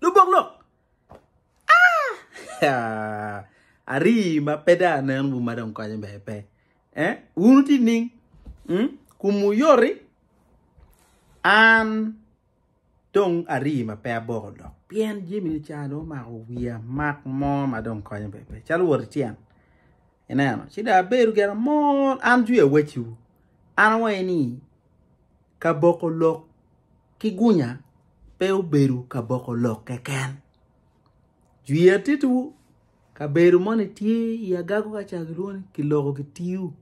Lubok lok. Ah! Ari ma pe da nen bu ma dong konyo be pe. Eh? Wunu ti ning. Hmm? Kum uyori. An dong ari ma pe aboko lok. Pien jimi ni cha do mako wiya mak mo ma dong konyo be pe. Chalo wot tyen. Ineno, ci dong abedo gin amol, an jwi awecciwu, an awaye ni, ka boko lok ki gunya pe obedo ka boko lok keken. Jwi atittiwu, kabedo moni tye i agago ka ca gilwongo ni kiloko gitiyu.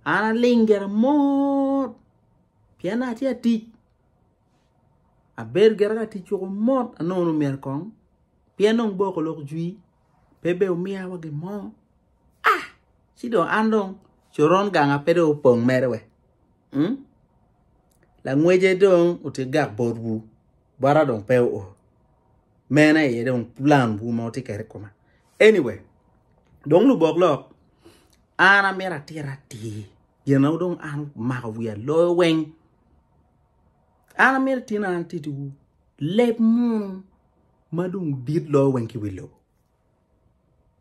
An aling gin amol, pien dong atye atic, abedo gire ka tic woko mot, anongo nongo myero kong, pien dong boko lok jwi. pe bene omiya wa gin mo ah ci dong an dong coron ganga pe dong opong mere we mm? langwece dong otigak botwu bota dong pe oo mene aye dong plan wu ma wutye kede kuma anyway dong lubok lok an amito atira atir gina dong an omako wiya loyo weng an amito tino an titiwu leb munu ma dong dit loyo weng ki wi lobo.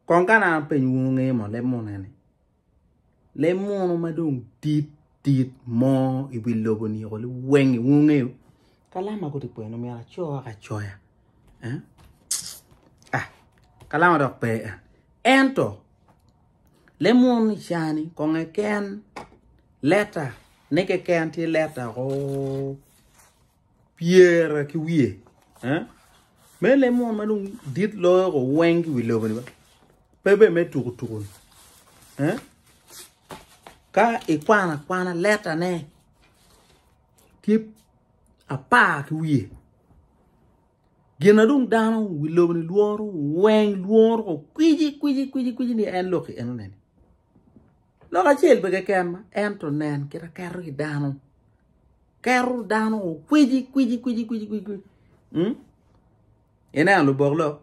Kong ka na apenyo wunu nge mo leb munu ni, leb munu ma dong dit dit mo i wi lobo ni oko wengi wunu ngeyo? Ka lam ma guti kwenu myero aco wek acoya. Eh? Ah, ka lam adok pe en. Ento, leb munu ni cani kong eken leta ne keken ti leta ko. pyera ki wiye eh me le mon ma dong dit loyo ko weng ki wi lobo ni ba pe be me tuku tuku eh ka ikwana kwana leta ne tye apar ki wiye gin na dong dano wi lobo ni lworo weng lworo ko kwiji kwiji kwiji kwiji ni en lok enone ni Lok acel pe keken ma ento nen kit aketo ki dano keto dano okwici kwici kwici kwici kwici kwici mm? ineno lubok lok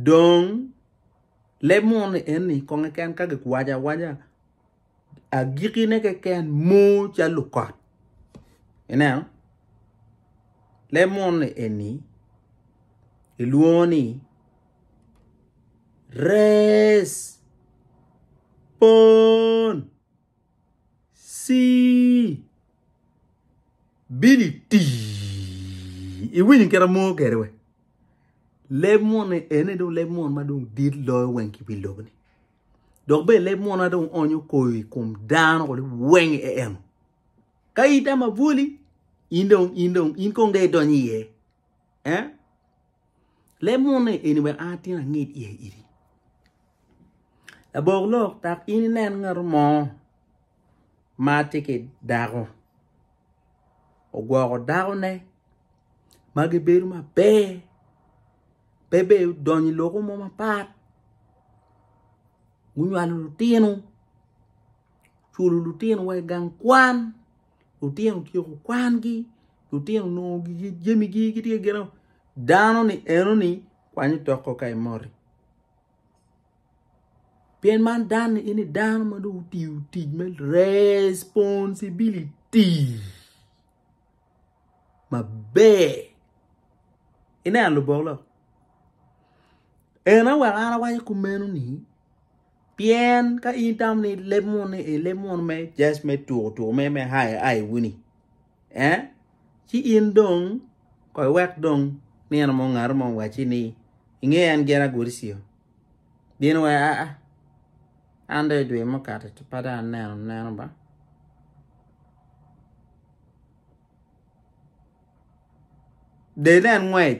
dong leb muni eni kong keken ka giwaco awaca agikine keken mor ca lukot ineno leb muni eni ilwongo ni Res. Pon. Si. Bili ti. Iwinyo kera mo kere we. Leb mon ni ene do leb mon ma dong dit loyo weng ki pi lobo ni. Dok be leb mon ma dong onyo koyo i kom dano kodi weng e eno. Ka ita ma buli, in dong, in dong, in kong de idonyo iye. Eh? Leb munne eni wek an atin anged iye iri. Labok lok dok in inen ngato mo ma tye ki dako ogwoko dakone ma gibedo maber pe bene odonyo i lokke mo mapat gunywalo lutino oculo lutino wa i gang kwan. Lutino otyeko kwangi, lutino onongo jamigi gitye gin dano-ni eno-ni kwany otoko ka imoti. Pien man dano-ni eno-ni dano ma dong otiyo tic me responsibility maber. Ineno lubok lok? En aye weko an awaco kumeno-ni. Pien ka in itamo ni leb muno ni e leb muno me just me tuko tuko me me hai hai wuni eh ci in dong koi wek dong nino mo ngaro mo waci ni inge en gena godicio bino wa a a an dong idwe mukato ci pada aneno neno ba del en ngwec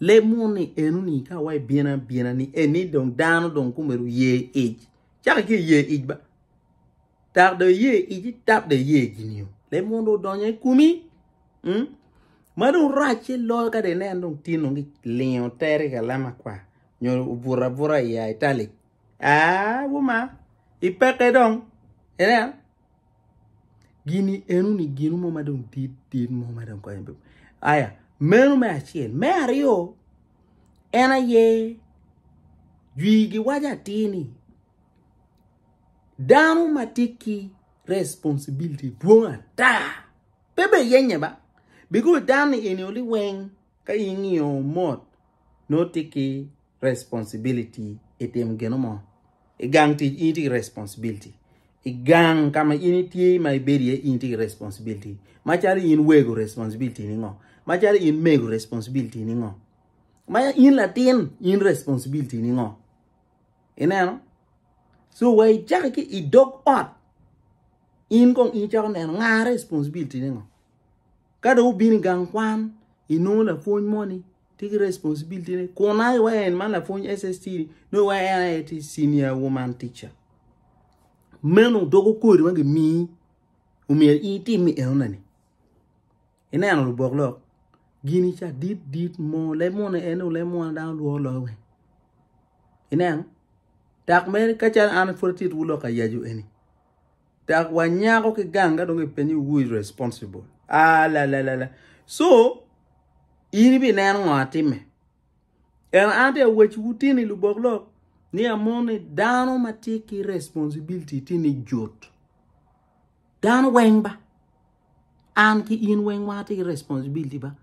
Leb mo ni eno ni ka wa ibino abina ni eni dong dano dong kome dong oye ic cako ki oye ic ba tak dong iye ic tap dong iye gin yo leb mo dong odonyo i komi mm? ma dong racce loyo ka dong ineno dong tye dong kilingo tere i kalam akwar nyo obuto abuta i italic aa wuma ipeke dong ineno gini eno ni gino mo ma dong dit dit mo ma dong konyo bene aya meno me acel me aryo en aye jwi giwaco atir ni dano ma tye ki responsibility dwong ata pe bene yenye ba bikoz dano-ni eni oli weng ka ingiyo mot nongo tye ki responsibility i timo gino mo. I gang tic in itye ki responsibility. I gang ka ma in itye ma ibedo iye in itye ki responsibility. Macalo in wego responsibility ni ngo? Macalo in mego responsibility ni ngo? Ma in latin in responsibility ni ngo? Ineno? So wa icako ki i dog ot in kong in cako neno nga responsibility ni ngo? Ka dong wubino i gang kwan inongo lapwony moni Tye ki responsibility ne kun I wa en man lapwony SST ni nongo wa en aye tye senior woman teacher. Meno dogo kodi ma gimiyi omyero in itim enona ni. Ineno lubok lok gini ca dit dit mo leb moni en o leb moni dano lworo loyo weng. Ineno? Dok mere kacalo an pwod atye two lok ayacu eni. dok wanyako ki gang ka dong kipenyo ni who is responsible alalala so in ibineno ngo atime en an tye awec wutini lubok lok ni amon ni dano ma tye ki responsibility tye ni jut dano weng ba an ki in weng wa tye ki responsibility ba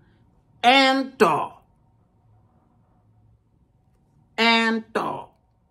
ento ento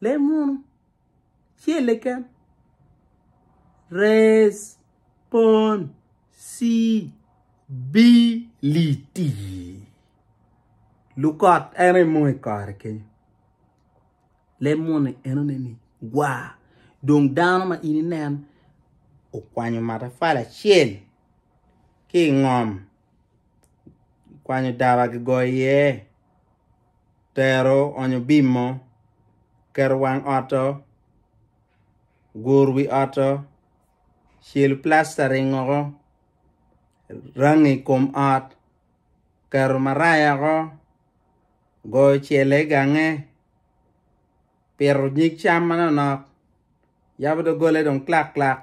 Lem munu. Celle ken. Res. Pon. Si. Bi. Li. Ti. Lukot en aye munu i kore kenyo. Lem munu enone ni gwa. Dong dano ma in inen okwanyo matafali acel ki i ngom. Okwanyo daba gigoyo iye. tero onyo bimo, keto wang otto, guru wi otto, celo plastering woko, rangi kom ot, keto maraya woko, goyo cel i gange, pito nyig cam manok nok, yabo doggole dong clakclak.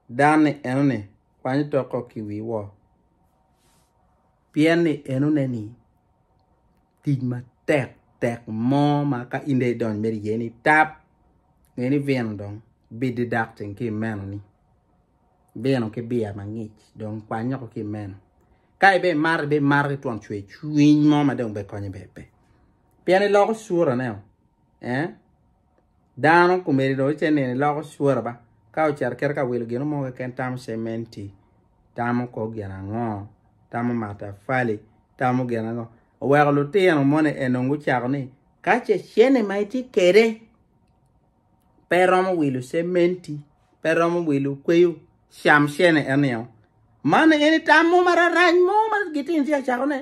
Dan ni enoni kwanyo toko ki wi wor, pien ni enone ni tic matek tek mo ma ka in dong idonyo mere iye ni tap nge ni vino dong bididak ceng ki imeno ni vino ki biya mangic dong kwanyo ko ki imeno ka ibe imato ibe imato ki twon cwer cwiny mo ma dong be konyo be pe pien iloko sura ne o eh Dano kumeni dong ice nino iloko cura ba ka ocito kit ka wilo gino mo keken tamo cementi tamo kor gin ango tamo matafali tamo gin ango oweko lutino moni enong gucako ni ka ce cene ma itye kede pe romo wilo cementi pe romo wilo kweyo cam cene enio man eni tam mo mararac mo ma gitino tye acakone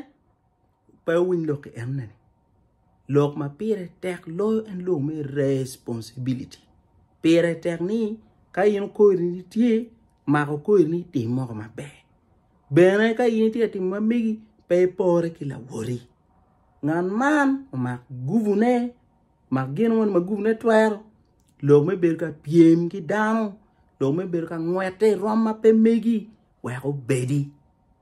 Pe winy lok ki en nene. Lok ma pire tek loyo en lok me responsibility. Pire tek ni ka in okori ni tye, mako okori ni tim moko maber. Bene ka in itye ka timo ma megi, pe ipore ki lawori. Ngat man omak guvune, mak gin moni ma guvune twero, lok me bedo ka pyem ki dano, lok me bedo ka ngwete i rom ma pe megi, wek obedi.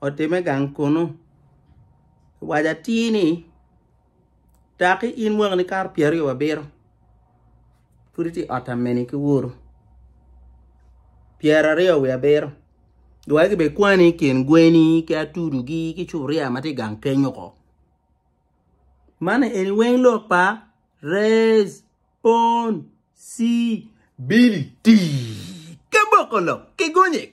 otime gang kunu. Waco atir ni daki in mwakani kato pyer aryo wabito pud itye i ot ameni ki woru pyer aryo wiye abiro luwotgi bene kwani i kin gweni ki atudu gi ki cupuria ma tye i gang kenyo ko man eni weng lok pa rez, pon, cii, bili, tii, ki boko lok ki gonye.